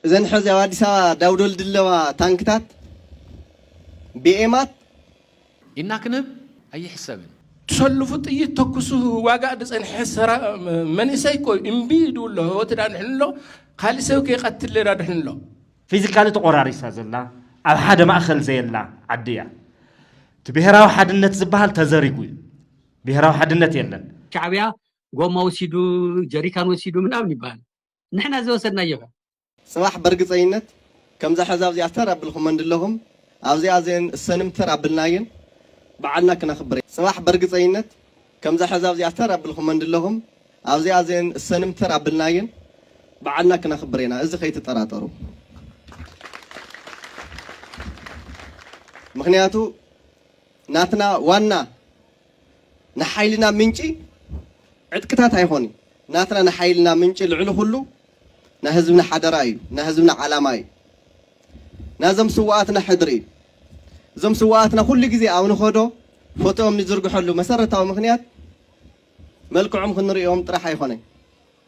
እዘን ሐዚ ኣብ ኣዲስ ኣበባ ዳውደል ድለዋ ታንክታት፣ ቢኤማት፣ ኢድና ክንህብ ኣይሕሰብን። ትሰልፉ ጥይት ተኩሱ ህዋጋእ ድጸንሐ ሰራ መንእሰይ እኮ እዩ እምቢ ኢዱ ኣሎ ህወቱ ዳድሕኑ ኣሎ ካሊእ ሰብ ከይቀትል ዳድሕኑ ኣሎ። ፊዚካሊ ተቆራሪሳ ዘላ ኣብ ሓደ ማእኸል ዘየላ ዓዲ እያ። እቲ ብሄራዊ ሓድነት ዝበሃል ተዘሪጉ እዩ። ብሄራዊ ሓድነት የለን። ሻዕቢያ ጎማ ወሲዱ ጀሪካን ወሲዱ ምናምን ይባሃል ንሕና ዝወሰድናዮ እዩ። ጽባሕ በርግጸኝነት ከምዛ ሕዛብ እዚኣ ተር ኣብልኩም መንድለኹም ኣብዚኣ ዘን እሰንም ተር ኣብልናየን ብዓልና ክነኽብር ጽባሕ በርግጸኝነት ከምዛ ሕዛብ እዚኣ ተር ኣብልኩም መንድለኹም ኣብዚኣ ዘን እሰንም ተር ኣብልናየን ብዓልና ክነኽብር ኢና እዚ ከይትጠራጠሩ ምክንያቱ ናትና ዋና ንሓይልና ምንጪ ዕጥቅታት ኣይኾንይ ናትና ንሓይልና ምንጪ ልዕሊ ኹሉ ናህዝብና ሓደራ እዩ ናህዝብና ዓላማ እዩ ናዞም ስውኣትና ሕድሪ እዩ እዞም ስውኣትና ኩሉ ግዜ ኣብ ንኸዶ ፎቶኦም ንዝርግሐሉ መሰረታዊ ምኽንያት መልክዖም ክንርእዮም ጥራሕ ኣይኾነይ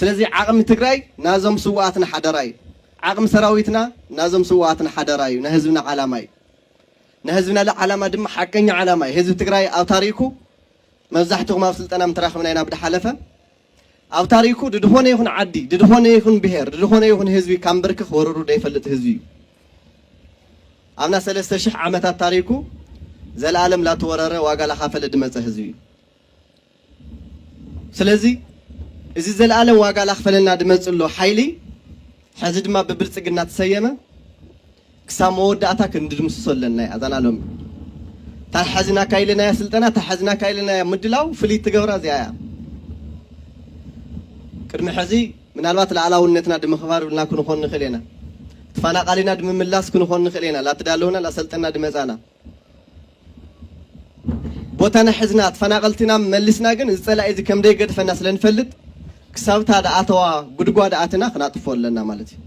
ስለዚ ዓቕሚ ትግራይ ናዞም ስውኣትና ሓደራ እዩ። ዓቕሚ ሰራዊትና ናዞም ስውኣትና ሓደራ እዩ። ናይ ህዝብና ዓላማ እዩ። ናይ ህዝብና ዓላማ ድማ ሓቀኛ ዓላማ እዩ። ህዝቢ ትግራይ ኣብ ታሪኩ መብዛሕትኹም ኣብ ስልጠና ምተራኽብና ኢና ብድሓለፈ ኣብ ታሪኩ ድድኾነ ይኹን ዓዲ ድድኾነ ይኹን ብሄር ድድኾነ ይኹን ህዝቢ ካብ ምብርክኽ ወርሩ ዘይፈልጥ ህዝቢ እዩ። ኣብና ሰለስተ ሽሕ ዓመታት ታሪኩ ዘለኣለም ላተወረረ ዋጋ ላኻፈለ ድመፀ ህዝቢ እዩ። ስለዚ እዚ ዘልኣለም ዋጋ ላኽፈለና ድመጽእሎ ሓይሊ ሕዚ ድማ ብብልጽግና ትሰየመ ክሳብ መወዳእታ ክንድምስሶ ኣለና እያ እዛና ሎሚ እታ ሕዝና ካይለናያ ስልጠና እታ ሕዝና ካይለናያ ምድላው ፍልይ ትገብራ እዚኣ እያ ቅድሚ ሕዚ ምናልባት ላዕላውነትና ድምኽባር ብልና ክንኾን ንኽእል ኢና ተፋናቃሊና ድምምላስ ክንኾን ንኽእል ኢና ላትዳለውና ላሰልጠና ድመጻና ቦታና ሕዝና ተፈናቐልትና መሊስና ግን እዚ ፀላኢ እዚ ከም ደይገድፈና ስለ ንፈልጥ ክሳብ እታ ድኣተዋ ጉድጓድ ኣትና ክናጥፎ ኣለና ማለት እዩ።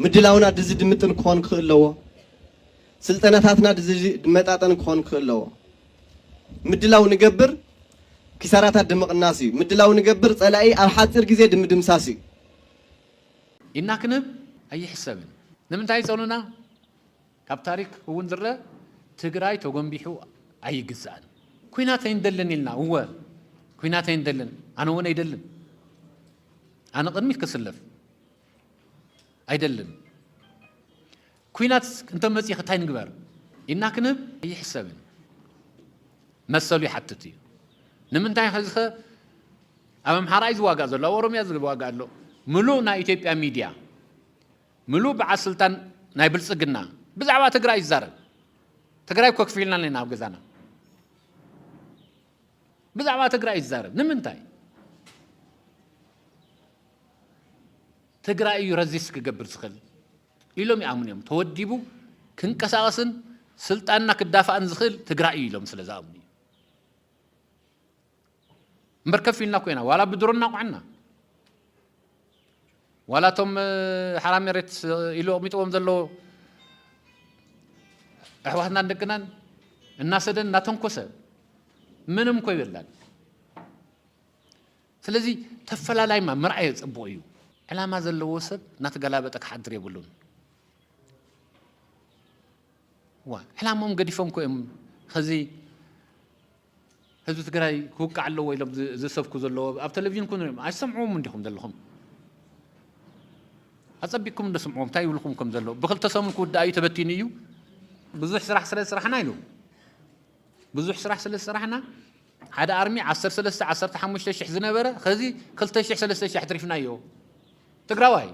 ምድላውና ድዚ ድምጥን ክኾን ክኽእል ኣለዎ። ስልጠናታትና ድዚ ድመጣጠን ክኾን ክኽእል ኣለዎ። ምድላው ንገብር ኪሳራታት ድምቕናስ እዩ። ምድላው ንገብር ፀላኢ ኣብ ሓፂር ግዜ ድምድምሳስ እዩ። ኢድና ክንህብ ኣይሕሰብን ንምንታይ ፀሉና? ካብ ታሪክ እውን ዝረእ ትግራይ ተጎንቢሑ ኣይግዛእን። ኩናት ኣይንደልን ኢልና እወ ኩናት ኣይንደልን ኣነ እውን ኣይደልን ኣነ ቅድሚት ክስለፍ ኣይደልን ኩናት እንተመፂ ክታይ ንግበር ኢድና ክንህብ ኣይሕሰብን መሰሉ ይሓትት እዩ ንምንታይ ሕዚ ኸ ኣብ ኣምሓራ እዩ ዝዋጋእ ዘሎ ኣብ ኦሮምያ ዝዋጋእ ኣሎ ምሉእ ናይ ኢትዮጵያ ሚድያ ምሉእ በዓል ስልጣን ናይ ብልፅግና ብዛዕባ ትግራይ ይዛረብ ትግራይ እኮ ክፊልና ኣለና ኣብ ገዛና ብዛዕባ ትግራይ ይዛረብ ንምንታይ ትግራይ እዩ ረዚስ ክገብር ዝኽእል ኢሎም ይኣምኑ እዮም ተወዲቡ ክንቀሳቐስን ስልጣንና ክዳፋእን ዝኽእል ትግራይ እዩ ኢሎም ስለ ዝኣምኑ እዩ እምበር ከፍ ኢልና ኮይና ዋላ ብድሮ እናቑዐና ዋላ እቶም ሓራ መሬት ኢሉ ኣቕሚጥዎም ዘሎ ኣሕዋትናን ደቅናን እናሰደን እናተንኮሰ ምንም እኮ ይበላል። ስለዚ ተፈላላይማ ምርኣየ ፅቡቕ እዩ። ዕላማ ዘለዎ ሰብ እናተገላበጠ ክሓድር የብሉን። ዋ ዕላሞም ገዲፎም ኮ እዮም ከዚ ህዝቢ ትግራይ ክውቃዕ ኣለዎ ኢሎም ዝሰብኩ ዘለዎ ኣብ ቴሌቪዥን ኩን ሪኦም ኣይሰምዕዎም እንዲኹም ዘለኹም ኣጸቢቅኩም እንዶ ስምዕዎም እንታይ ይብልኩም ከም ዘሎ ብክልተ ሰሙን ክውዳእ እዩ ተበቲኑ እዩ ብዙሕ ስራሕ ስለ ዝስራሕና ኢሉ ብዙሕ ስራሕ ስለ ዝስራሕና ሓደ ኣርሚ 13 15 ሽሕ ዝነበረ ከዚ 2 ሽሕ 3 ሽሕ ኣትሪፍናዮ ትግራዋይ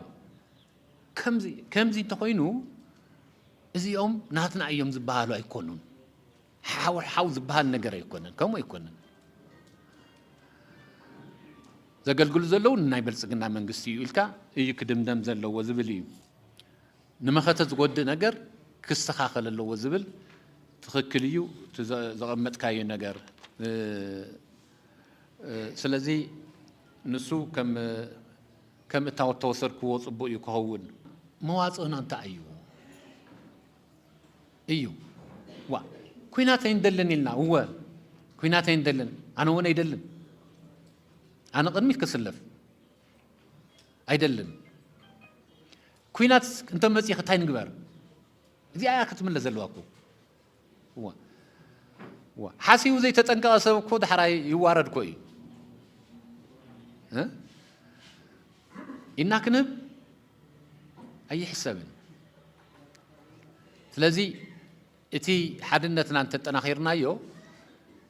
ከምዚ ከምዚ እንተኾይኑ እዚኦም ናትና እዮም ዝበሃሉ ኣይኮኑን ሓው ሓው ዝበሃል ነገር ኣይኮነን፣ ከምኡ ኣይኮነን። ዘገልግሉ ዘለዉ ንናይ ብልፅግና መንግስቲ እዩ ኢልካ እዩ ክድምደም ዘለዎ ዝብል እዩ። ንመኸተ ዝጎድእ ነገር ክስተኻኸል ኣለዎ ዝብል ትኽክል እዩ እቲ ዘቐመጥካዮ ነገር። ስለዚ ንሱ ከም እታወት ተወሰድክዎ ፅቡቅ እዩ ክኸውን። መዋፅእና እንታይ እዩ? እዩ ዋ ኩናት ኣይንደልን ኢልና እወ ኩናት ኣይንደልን ኣነ እውን ኣይደልን ኣነ ቅድሚት ክስለፍ ኣይደልን ኩናት እንተመፅእ እንታይ ንግበር እዚኣ እያ ክትምለስ ዘለዋ እኮ እዋ እዋ ሓሲቡ ዘይተጠንቀቐ ሰብ እኮ ዳሕራይ ይዋረድ እኮ እዩ እ? ኢና ክንህብ ኣይሕሰብን። ስለዚ እቲ ሓድነትና እንተጠናኺርናዮ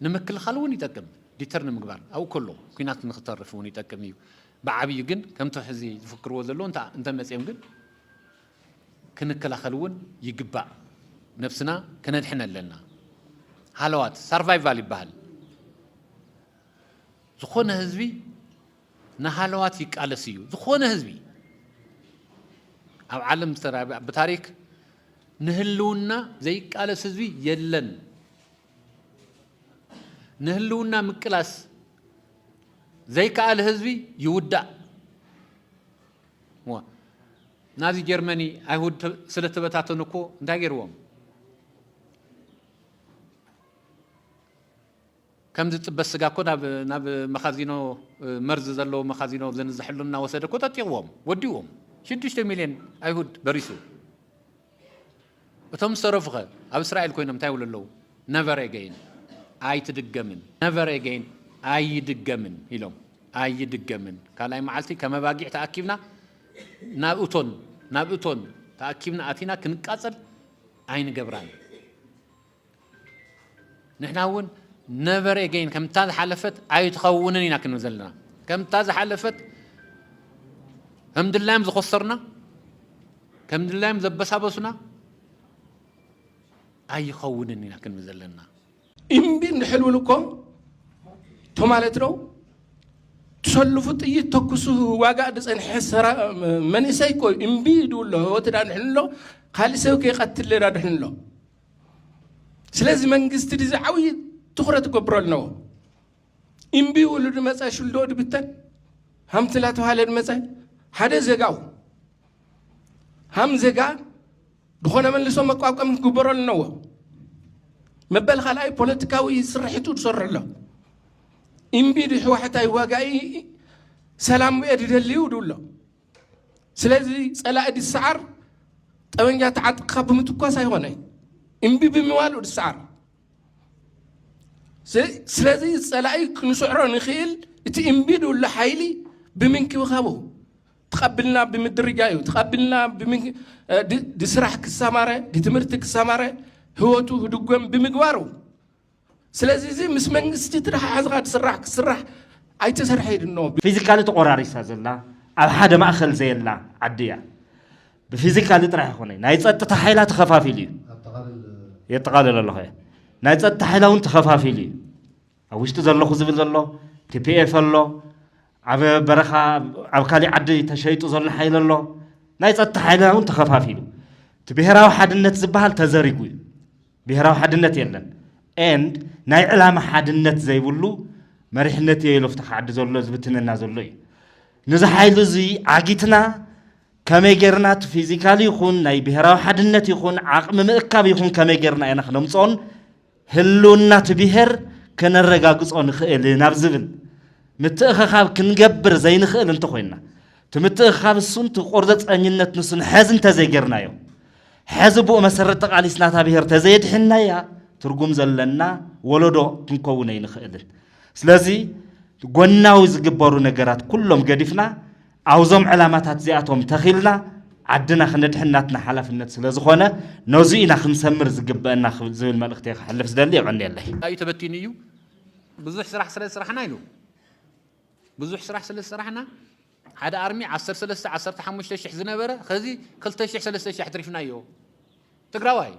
ንምክልኻል እውን ይጠቅም ዲተር ንምግባር ኣብኡ ከሎ ኩናት ንክተርፍ እውን ይጠቅም እዩ ብዓብዩ ግን ከምቲ ሕዚ ዝፍክርዎ ዘለዎ እንተመፅኦም ግን ክንከላኸል እውን ይግባእ ነብስና ክነድሕን ኣለና ሃለዋት ሳርቫይቫል ይበሃል ዝኾነ ህዝቢ ንሃለዋት ይቃለስ እዩ ዝኾነ ህዝቢ ኣብ ዓለም ዝተራብያ ብታሪክ ንህልውና ዘይቃለስ ህዝቢ የለን ንህልውና ምቅላስ ዘይከኣል ህዝቢ ይውዳእ ናዚ ጀርመኒ ኣይሁድ ስለተበታተኑ እኮ እንታይ ገይርዎም ከም ዝጽበ ስጋ እኮ ናብ ናብ መኻዚኖ መርዚ ዘለዎ መኻዚኖ ዘንዝሐሉ እናወሰደ እኮ ጠጢቕዎም ወዲኡዎም ሽዱሽተ ሚልዮን ኣይሁድ በሪሱ እቶም ዝተረፉኸ ኣብ እስራኤል ኮይኖም እንታይ ይብሉ ኣለዉ ነቨር ኤገይን ኣይትድገምን ነቨር ኤገይን ኣይድገምን ኢሎም ኣይድገምን ካልኣይ መዓልቲ ከም ኣባጊዕ ተኣኪብና ናብ እቶን ናብ እቶን ተኣኪብና ኣቲና ክንቃጸል ኣይንገብራን ንሕና እውን ነበረ ገይን ከምታ ዝሓለፈት ኣይትኸውንን ኢና ክንብል ዘለና ከምታ ዝሓለፈት ከም ድላዮም ዝኮሰርና ከም ድላዮም ዘበሳበሱና ኣይኸውንን ኢና ክንብል ዘለና እምቢ እንድሕልውን እኮ እቶ ማለት ነው ትሰልፉ ጥይት ተኩሱ ዋጋእ ዝፀንሐ ሰራ መንእሰይ እኮ እምቢ ይድብሎ ህወት ዳንሕንሎ ካልእ ሰብ ከይቀትል ዳድሕንሎ ስለዚ መንግስቲ ድዚ ዓብዪ ትኹረት ክገብሮ ኣለዎ እምቢ ውሉ ድመፀ ሽልዶ ድብተን ሃምቲ እናተባሃለ ድመፀ ሓደ ዜጋው ሃም ዜጋ ዝኾነ መልሶ መቋቋም ክግበሮ ኣለዎ መበል ካልኣይ ፖለቲካዊ ስርሒቱ ዝሰርሑ ኣሎ እምቢ ድሕዋሕታይ ዋጋኢ ሰላም እየ ድደልዩ ድብሎ ስለዚ ጸላኢ ድሰዓር ጠበንጃ ተዓጥቅኻ ብምትኳስ ኣይኾነ እምቢ ብምባሉ ድሰዓር። ስለዚ ጸላኢ ክንስዕሮ ንኽእል እቲ እምቢ ድብሉ ሓይሊ ብምንክብኻቡ ተቐብልና ብምድርጃ እዩ ተቐብልና ድስራሕ ክሰማረ ድትምህርቲ ክሰማረ ህይወቱ ህድጎም ብምግባሩ ስለዚ እዚ ምስ መንግስቲ ትተሓሓዝኻ ትስራሕ ክስራሕ ኣይተሰርሐ ድኖ። ፊዚካሊ ተቆራሪሳ ዘላ ኣብ ሓደ ማእኸል ዘየላ ዓዲ እያ። ብፊዚካሊ ጥራሕ ይኾነ ናይ ፀጥታ ሓይላ ተኸፋፊሉ እዩ የጠቓልል ኣለኹ እየ ናይ ፀጥታ ሓይላ እውን ተኸፋፊሉ እዩ ኣብ ውሽጢ ዘለኹ ዝብል ዘሎ ቲፒኤፍ ኣሎ ኣብ በረኻ ኣብ ካሊእ ዓዲ ተሸይጡ ዘሎ ሓይሊ ኣሎ ናይ ፀጥታ ሓይልና እውን ተኸፋፊሉ እቲ ብሄራዊ ሓድነት ዝበሃል ተዘሪጉ እዩ ብሄራዊ ሓድነት የለን and ናይ ዕላማ ሓድነት ዘይብሉ መሪሕነት እየ ኢሎ ፍታ ክዓዲ ዘሎ ዝብትነና ዘሎ እዩ ንዚ ሓይሉ እዚ ዓጊትና ከመይ ጌርና እቲ ፊዚካል ይኹን ናይ ብሄራዊ ሓድነት ይኹን ዓቕሚ ምእካብ ይኹን ከመይ ጌርና ኢና ክነምፅኦን ህልውና እቲ ብሄር ከነረጋግፆ ንኽእል ናብ ዝብል ምትእኸኻብ ክንገብር ዘይንኽእል እንተኾይንና እቲ ምትእኽኻብ እሱን እቲ ቆርዘፀኝነት ንሱን ሐዚ እንተዘይገርናዮ፣ ሐዚ ብኡ መሰረት ተቓሊስና እታ ብሄር ተዘየድሒንናያ ትርጉም ዘለና ወለዶ ክንከውን ኣይንኽእልን። ስለዚ ጎናዊ ዝግበሩ ነገራት ኩሎም ገዲፍና ኣብዞም ዕላማታት እዚኣቶም ተኺልና ዓድና ክነድሕን ናትና ሓላፍነት ስለዝኾነ ነዙይ ኢና ክንሰምር ዝግበእና ዝብል መልእኽቲ እየ ክሕልፍ ዝደሊ። የቐንየለይ። ዩ ተበቲኑ እዩ ብዙሕ ስራሕ ስለ ዝስራሕና ኢሉ ብዙሕ ስራሕ ስለ ዝሰራሕና ሓደ ኣርሚ ዓሰርተ ሰለስተ ዓሰርተ ሓሙሽተ ሽሕ ዝነበረ ኸዚ ክልተ ሽሕ ሰለስተ ሽሕ ኣትሪፍናዮ ትግራዋይ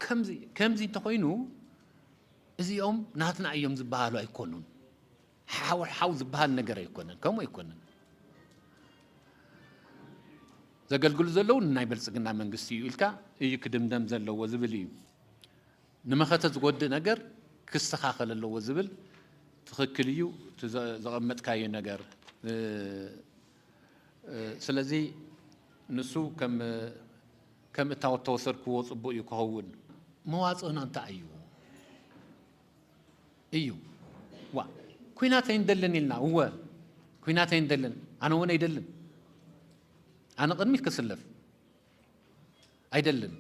ከምዚ ከምዚ እንተኾይኑ እዚኦም ናትና እዮም ዝበሃሉ ኣይኮኑን ሓው ሓው ዝበሃል ነገር ኣይኮነን ከምኡ ኣይኮነን ዘገልግሉ ዘለዉ ንናይ ብልፅግና መንግስቲ እዩ ኢልካ እዩ ክድምደም ዘለዎ ዝብል እዩ ንመኸተ ዝጎድእ ነገር ክስተኻኸል ኣለዎ ዝብል ትኽክል እዩ እቲ ዘቐመጥካዮ ነገር ስለዚ ንሱ ከም እታወት ተወሰድክዎ ፅቡቅ እዩ ክኸውን መዋፅእና እንታይ እዩ እዩ ዋ ኩናት ኣይንደልን ኢልና እወ ኩናት ኣይንደልን ኣነ እውን ኣይደልን ኣነ ቅድሚት ክስለፍ ኣይደልን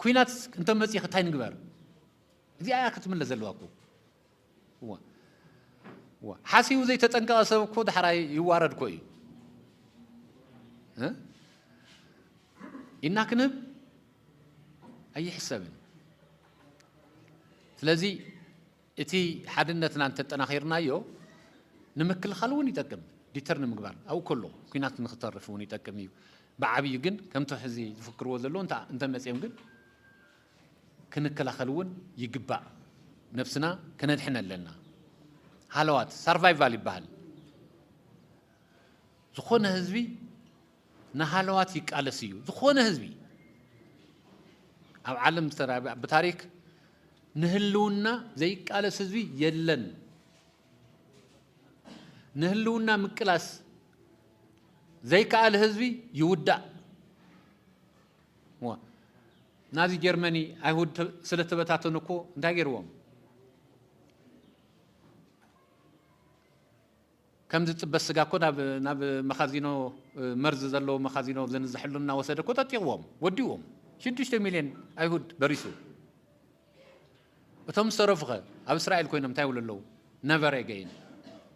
ኩናት እንተ መጺ ክታይ ንግበር እዚኣ እያ ክትምለስ ዘለዋ እኮ እዋ እዋ ሓሲቡ ዘይተጠንቀቐ ሰብ እኮ ዳሕራይ ይዋረድ እኮ እዩ ኢና ክንብ ኣይሕሰብን ስለዚ እቲ ሓድነትና እንተጠናኺርናዮ ንምክልኻል እውን ይጠቅም፣ ዲተር ንምግባር ኣብኡ ከሎ ኲናት ንክተርፍ እውን ይጠቅም እዩ። ብዓብዩ ግን ከምቶ ሕዚ ዝፍክርዎ ዘለዉ እንተመፂኦም ግን ክንከላኸል እውን ይግባእ፣ ነብስና ከነድሕን ኣለና። ሃለዋት ሳርቫይቫል ይበሃል። ዝኾነ ህዝቢ ንሃለዋት ይቃለስ እዩ ዝኾነ ህዝቢ ኣብ ዓለም ዝተራብያ ብታሪክ ንህልውና ዘይቃለስ ህዝቢ የለን። ንህልውና ምቅላስ ዘይከኣል ህዝቢ ይውዳእ። ናዚ ጀርመኒ ኣይሁድ ስለተበታተኑ እኮ እንታይ ገይርዎም? ከም ዝጽበ ስጋ እኮ ናብ ናብ መኻዚኖ መርዚ ዘለዎ መኻዚኖ ዘንዝሐሉ እናወሰደ እኮ ጠጢቕዎም ወዲኡዎም ሽዱሽተ ሚልዮን ኣይሁድ በሪሱ እቶም ዝተረፉኸ ኣብ እስራኤል ኮይኖም እንታይ ይብሉ ኣለዉ ነቨር ኤገይን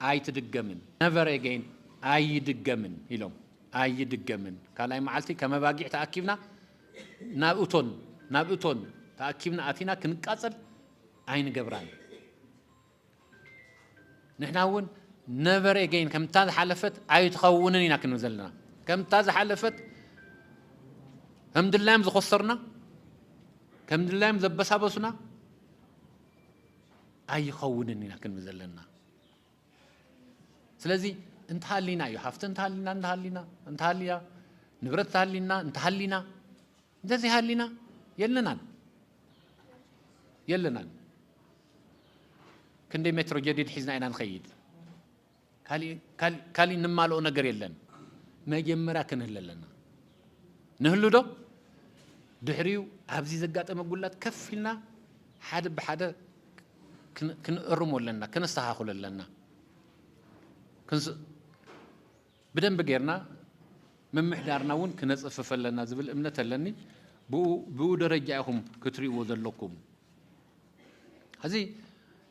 ኣይትድገምን ነቨር ኤገይን ኣይድገምን ኢሎም ኣይድገምን ካልኣይ መዓልቲ ከም ኣባጊዕ ተኣኪብና ናብ እቶን ናብ እቶን ተኣኪብና ኣቲና ክንቃጸል ኣይንገብራን ንሕና እውን ነበረ ገይን ከምታ ዝሓለፈት ኣይትኸውንን ኢና ክንብል ዘለና ከምታ ዝሓለፈት ከም ድላዮም ዝኮሰርና ከም ድላዮም ዘበሳበሱና ኣይኸውንን ኢና ክንብል ዘለና ስለዚ እንተሃሊና እዩ ሃፍቲ እንተሃሊና እንተሃሊና እንተሃልያ ንብረት እንተሃሊና እንተሃሊና እንተዘይ ሃሊና የለናን የለናን ክንደይ ሜትሮ ጀዲድ ሒዝና ኢና ንኸይድ ካሊእ ንማልኦ ነገር የለን መጀመርያ ክንህለ ኣለና ንህሉ ዶ ድሕሪኡ ኣብዚ ዘጋጠመ ጉላት ከፍ ኢልና ሓደ ብሓደ ክንእርሞ ኣለና ከነስተኻኽሎ ኣለና ብደንቢ ጌርና ምምሕዳርና እውን ክነጽፍፍ ኣለና ዝብል እምነት ኣለኒ። ብኡ ብኡ ደረጃ ኢኹም ክትሪእዎ ዘለኩም። ሕዚ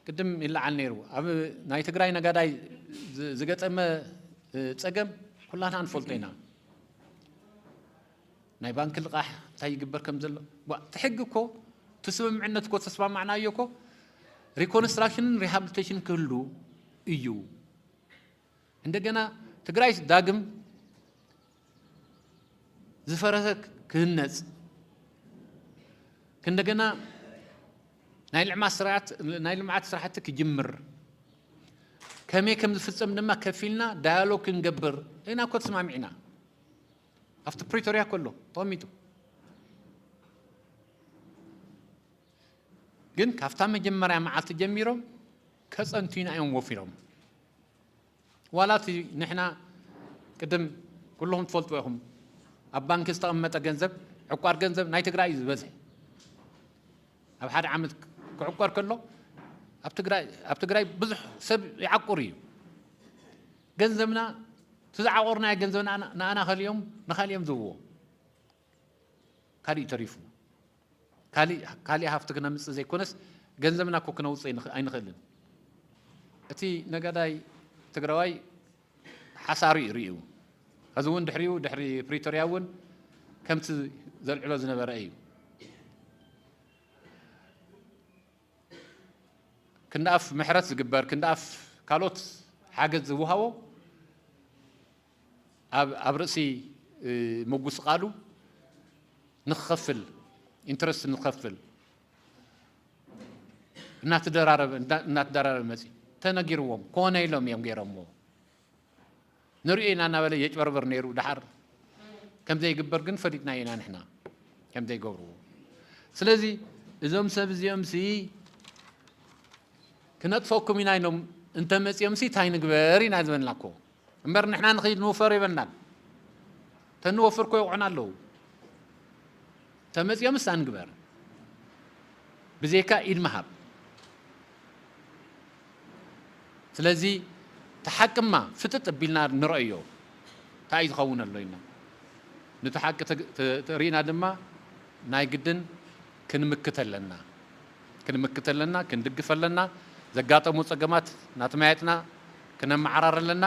ቅድም ይለዓል ነይሩ ኣብ ናይ ትግራይ ነጋዳይ ዝ- ዝገጠመ እ፣ ጸገም ኩላትና ንፈልጦ ኢና። ናይ ባንኪ ልቓሕ እንታይ ይግበር ከም ዘሎ ዋ፣ እቲ ሕጊ እኮ እቲ ስምምዕነት እኮ ተስማማዕናዮ እኮ ሪኮንስትራክሽንን ሪሃብሊቴሽን ክህሉ እዩ እንደገና ትግራይስ ዳግም ዝፈረሰ ክህነፅ እንደገና ናይ ልዕማት ስርዓት ናይ ልምዓት ስራሕቲ ክጅምር ከመይ ከም ዝፍፀም ድማ ከፊልና ዳያሎግ ክንገብር ኢና እኮ ተስማሚዕና ኣብቲ ፕሪቶሪያ ከሎ ተቐሚጡ ግን ካብታ መጀመሪያ መዓልቲ ጀሚሮም ከፀንቱና እዮም ወፊሮም ዋላ እቲ ንሕና ቅድም ኩልኹም ትፈልጥዎ ኢኹም ኣብ ባንኪ ዝተቐመጠ ገንዘብ ዕቋር ገንዘብ ናይ ትግራይ እዩ ዝበዝሐ ኣብ ሓደ ዓመት ክዕቆር ከሎ ኣብ ትግራይ ኣብ ትግራይ ብዙሕ ሰብ ይዓቁር እዩ ገንዘብና እቲ ዝዓቆርናዮ ገንዘብና ንኣና ከሊኦም ንካሊኦም ዝብዎ ካሊእ ተሪፉ ካሊእ ሃፍቲ ክነምፅእ ዘይኮነስ ገንዘብና እኮ ክነውፅ ኣይንኽእልን። እቲ ነጋዳይ ትግራዋይ ሓሳሩ እዩ ርእዩ ከዚ እውን ድሕሪኡ ድሕሪ ፕሪቶርያ እውን ከምቲ ዘልዕሎ ዝነበረ እዩ። ክንደኣፍ ምሕረት ዝግበር ክንደኣፍ ካልኦት ሓገዝ ዝወሃቦ ኣብ ርእሲ ምጉስቓሉ ንክኸፍል ኢንተረስት ንክኸፍል እናተደራረበ መፂ ተነጊርዎም ኮነ ኢሎም እዮም ገይሮምዎ ንሪኦ ኢና እናበለ የጭበርበር ነይሩ ድሓር ከምዘይግበር ግን ፈሊጥና ኢና ንሕና ከምዘይገብርዎ ስለዚ እዞም ሰብ እዚኦም ሲ ክነጥፈኩም ኢና ኢሎም እንተመፅኦም ሲ እንታይ ንግበር ኢና ዝበልና እኮ እምበር ንሕና ንኺድ ንውፈር የበናን ተንወፍር እኮ ይቑዕና ኣለዉ ተመፅኦምስ ኣንግበር ብዘይካ ኢድ ምሃብ ስለዚ ተሓቅማ ፍጥጥ ቢልና ንረእዮ እንታይ እዩ ዝኸውን ኣሎ ኢና ነቲ ሓቂ ርኢና ድማ ናይ ግድን ክንምክት ኣለና ክንምክት ኣለና፣ ክንድግፍ ኣለና፣ ዘጋጠሙ ጸገማት ናትማያጥና ክነመዓራሪ ኣለና፣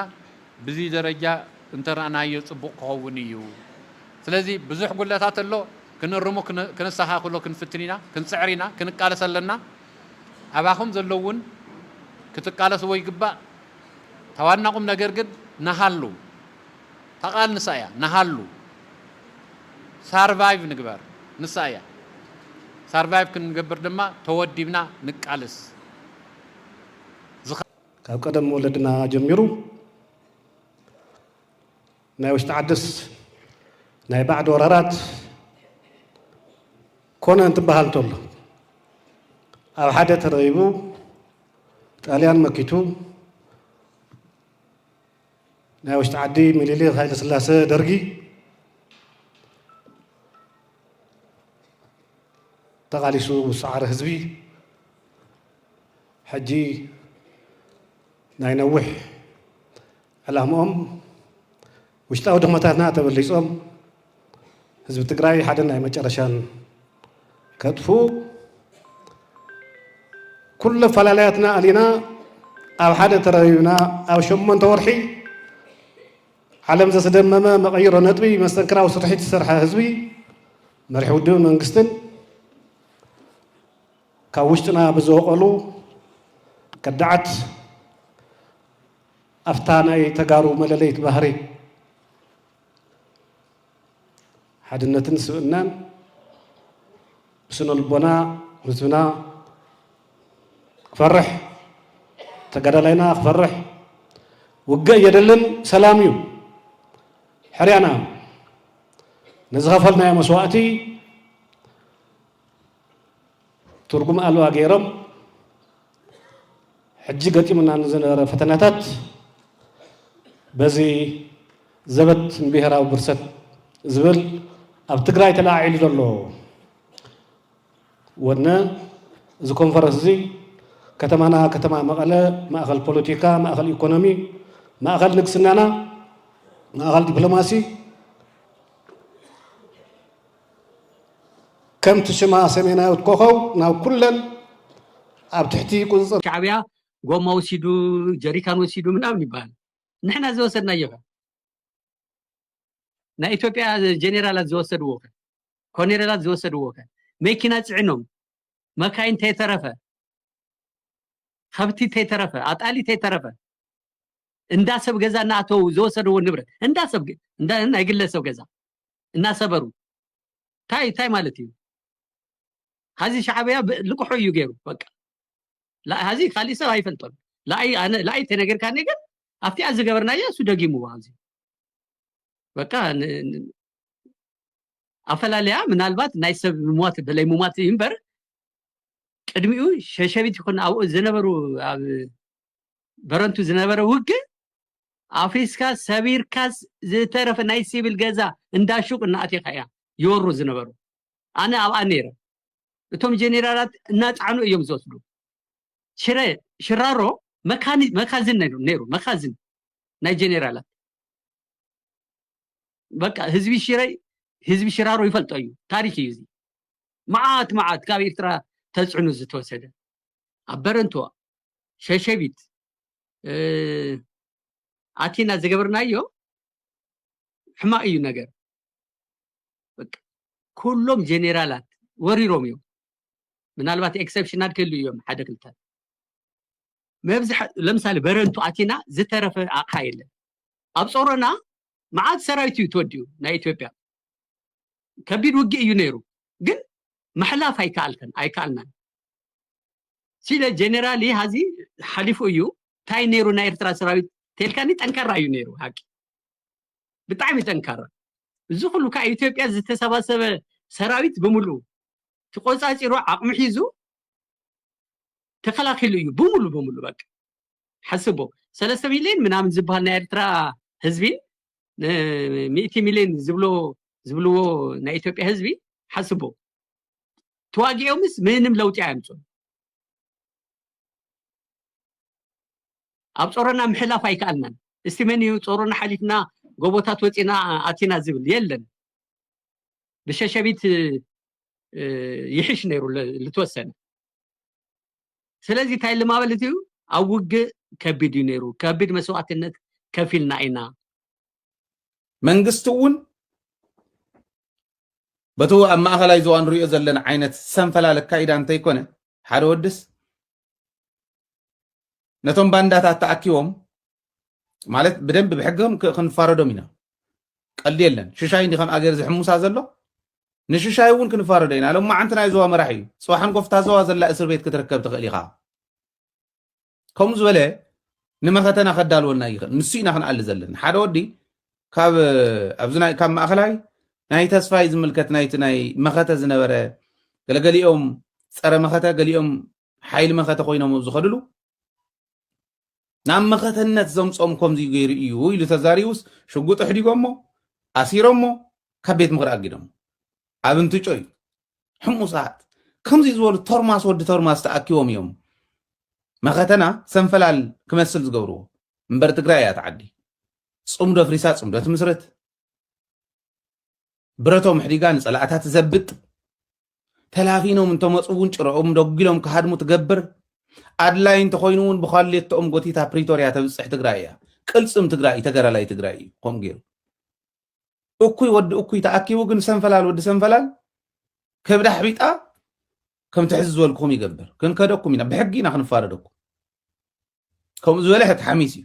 ብዚ ደረጃ እንተረእናዮ ጽቡቕ ክኸውን እዩ፣ ስለዚ ብዙሕ ጉድለታት ኣሎ፣ ክንእርሞ ከነስተኻኽሎ ክንፍትን ኢና፣ ክንጽዕር ኢና፣ ክንቃለስ ኣለና፣ ኣባኹም ዘሎ እውን ክትቃለስዎ ይግባእ፣ ታዋና ቁምነገር ግን ንሃሉ። እታ ቃል ንሳ እያ ንሃሉ ሳርቫይቭ ንግበር ንሳ እያ ሳርቫይቭ ክንገብር ድማ ተወዲብና ንቃልስ። ካብ ቀደም ወለድና ጀሚሩ ናይ ውሽጢ ዓድስ ናይ ባዕዲ ወራራት ኮነ እንትበሃል እንተሎ ኣብ ሓደ ተረቢቡ ጣልያን መኪቱ ናይ ውሽጢ ዓዲ ሚኒሊክ ሃይለስላሰ ደርጊ ተቓሊሱ ምስ ሰዓረ ህዝቢ ሕጂ ናይ ነዊሕ ዕላምኦም ውሽጣዊ ድኽመታትና ተበሊፆም ህዝቢ ትግራይ ሓደ ናይ መጨረሻን ከጥፉ ኩሉ ኣፈላለያትና ኣሊና ኣብ ሓደ ተረቢብና ኣብ ሸሞንተ ወርሒ ዓለም ዘስደመመ መቐይሮ ነጥቢ መስተንክራዊ ስርሒት ዝሰርሐ ህዝቢ መሪሒ ውድብን መንግስትን ካብ ውሽጥና ብዝወቀሉ ከዳዓት ኣፍታ ናይ ተጋሩ መለለይት ባህሪ ሓድነትን ስብእናን ብስነ ልቦና ህዝብና ክፈርሕ ተጋዳላይና ክፈርሕ ውግእ የደልን ሰላም እዩ ሕርያና ነዝኸፈልናዮ መስዋእቲ ትርጉም ኣልባ ገይሮም ሕጂ ገጢሙና ንዝነበረ ፈተናታት በዚ ዘበት ንብሄራዊ ብርሰት ዝብል ኣብ ትግራይ ተለዓዒሉ ዘሎ ወነ እዚ ኮንፈረንስ እዚ ከተማና ከተማ መቐለ ማእኸል ፖለቲካ፣ ማእኸል ኢኮኖሚ፣ ማእኸል ንግስናና፣ ማእኸል ዲፕሎማሲ ከምቲ ሽማ ሰሜናዊት ኮኾው ናብ ኩለን ኣብ ትሕቲ ቁጽጽር። ሻዕብያ ጎማ ወሲዱ ጀሪካን ወሲዱ ምናምን ይበሃል ንሕና ዝወሰድናዮ ከ ናይ ኢትዮጵያ ጀኔራላት ዝወሰድዎ ከ ኮኔሬላት ዝወሰድዎ ከ መኪና ጽዒኖም መካይን ተይተረፈ ከብቲ ተይተረፈ ኣጣሊ ተይተረፈ እንዳ ሰብ ገዛ እናኣተው ዝወሰድዎ ንብረት እንዳ ሰብ ናይ ግለሰብ ገዛ እናሰበሩ ታይ ታይ ማለት እዩ ሀዚ ሻዕብያ ልቅሑ እዩ ገይሩ በቃ ሀዚ ካሊእ ሰብ ኣይፈልጦን ለኣይ ተነገርካኒ ግን ኣብቲኣ ዝገበርናያ እሱ ደጊምዎ ኣብዚ በቃ ኣፈላለያ ምናልባት ናይ ሰብ ምሟት በለይ ምሟት እዩ እምበር ቅድሚኡ ሸሸቢት ይኹን ኣብኡ ዝነበሩ ኣብ በረንቱ ዝነበረ ውግእ ኣፍሪስካ ሰቢርካስ ዝተረፈ ናይ ሲቪል ገዛ እንዳ ሹቅ እናኣቴኻ እያ ይወሩ ዝነበሩ ኣነ ኣብኣ ነይረ እቶም ጀኔራላት እናፃዕኑ እዮም ዝወስዱ ሽረ ሽራሮ መካኒ መካዝን ነይሩ ነይሩ መካዝን ናይ ጀኔራላት በቃ ህዝቢ ሽረ ህዝቢ ሽራሮ ይፈልጦ እዩ ታሪክ እዩ እዚ መዓት መዓት ካብ ኤርትራ ተፅዕኑ ዝተወሰደ ኣብ በረንቱ ሸሸቢት ኣቲና ዝገበርናዮ ሕማቅ እዩ ነገር ኩሎም ጀኔራላት ወሪሮም እዮም ምናልባት ኤክሰፕሽናል ክህሉ እዮም ሓደ ክልተ መብዝሐ ለምሳሌ በረንቱ ኣቲና ዝተረፈ ኣቕሓ የለን ኣብ ፆሮና መዓት ሰራዊት እዩ ተወዲኡ ናይ ኢትዮጵያ ከቢድ ውግእ እዩ ነይሩ ግን ምሕላፍ ኣይከኣልከን ኣይከኣልናን ሲለ ጀነራል ሀዚ ሓሊፉ እዩ እንታይ ነይሩ ናይ ኤርትራ ሰራዊት ተልካኒ ጠንካራ እዩ ነይሩ ሓቂ ብጣዕሚ ጠንካራ እዚ ኩሉ ካብ ኢትዮጵያ ዝተሰባሰበ ሰራዊት ብምሉ ተቆፃፂሩ ዓቕሚ ሒዙ ተከላኪሉ እዩ ብምሉ ብምሉ በቃ ሓስቦ ሰለስተ ሚሊዮን ምናምን ዝበሃል ናይ ኤርትራ ህዝቢ ሚእቲ ሚሊዮን ዝብሎ ዝብልዎ ናይ ኢትዮጵያ ህዝቢ ሓስቦ ተዋጊኦምስ ምንም ለውጢ ኣየምፁን ኣብ ፆሮና ምሕላፍ ኣይከኣልናን እስቲ መን እዩ ፆሮና ሓሊፍና ጎቦታት ወፂና ኣቲና ዝብል የለን ብሸሸቢት ይሕሽ ነይሩ ልትወሰነ ስለዚ እንታይ ልማበለት እዩ ኣብ ውግእ ከቢድ እዩ ነይሩ ከቢድ መስዋእትነት ከፊልና ኢና መንግስቲ እውን በቲ ኣብ ማእኸላይ ዞባ ንሪኦ ዘለና ዓይነት ሰንፈላል ኣካይዳ እንተይኮነ ሓደ ወድስ ነቶም ባንዳታት ተኣኪቦም ማለት ብደንብ ብሕግም ክንፋረዶም ኢና ቀልዲ የለን ሽሻይ እንዲ ከም ኣገር ዝሕሙሳ ዘሎ ንሽሻይ እውን ክንፋረዶ ኢና ሎም መዓንቲ ናይ ዞባ መራሕ እዩ ፅባሕ ንኮፍታ ዞባ ዘላ እስር ቤት ክትርከብ ትኽእል ኢኻ ከምኡ ዝበለ ንመኸተና ከዳልወና ይኽእል ንሱ ኢና ክንኣሊ ዘለና ሓደ ወዲ ካብ ኣብዚ ናይ ካብ ማእኸላይ ናይ ተስፋይ ዝምልከት ናይቲ ናይ መኸተ ዝነበረ ገለገሊኦም ፀረ መኸተ ገሊኦም ሓይሊ መኸተ ኮይኖም ኣብ ዝኸድሉ ናብ መኸተነት ዘምፆም ከምዚ ገይሩ እዩ ኢሉ ተዛሪቡስ ሽጉጥ ኣሕዲጎሞ ኣሲሮሞ ካብ ቤት ምኽሪ ኣጊዶሞ ኣብ እንትጮይ ሕሙሳት ከምዚ ዝበሉ ቶርማስ ወዲ ቶርማስ ተኣኪቦም እዮም መኸተና ሰንፈላል ክመስል ዝገብርዎ እምበር ትግራይ እያ ተዓዲ ፅምዶ ፍሪሳ ፅምዶ ትምስርት ብረቶም ሕዲጋ ንፀላእታ ትዘብጥ ተላፊኖም እንተመፁ እውን ጭረኦም ደጒሎም ክሃድሙ ትገብር ኣድላይ እንተኮይኑ እውን ብኳሌቶኦም ጎቲታ ፕሪቶርያ ተብፅሕ ትግራይ እያ ቅልፅም ትግራይ ተገራላይ ትግራይ እዩ ከምኡ ገይሩ እኩይ ወዲ እኩይ ተኣኪቡ ግን ሰንፈላል ወዲ ሰንፈላል ከብዳ ሕቢጣ ከምቲ ሕዚ ዝበልክኹም ይገብር ክንከደኩም ኢና ብሕጊ ኢና ክንፋረደኩም ከምኡ ዝበለ ሕት ሓሚስ እዩ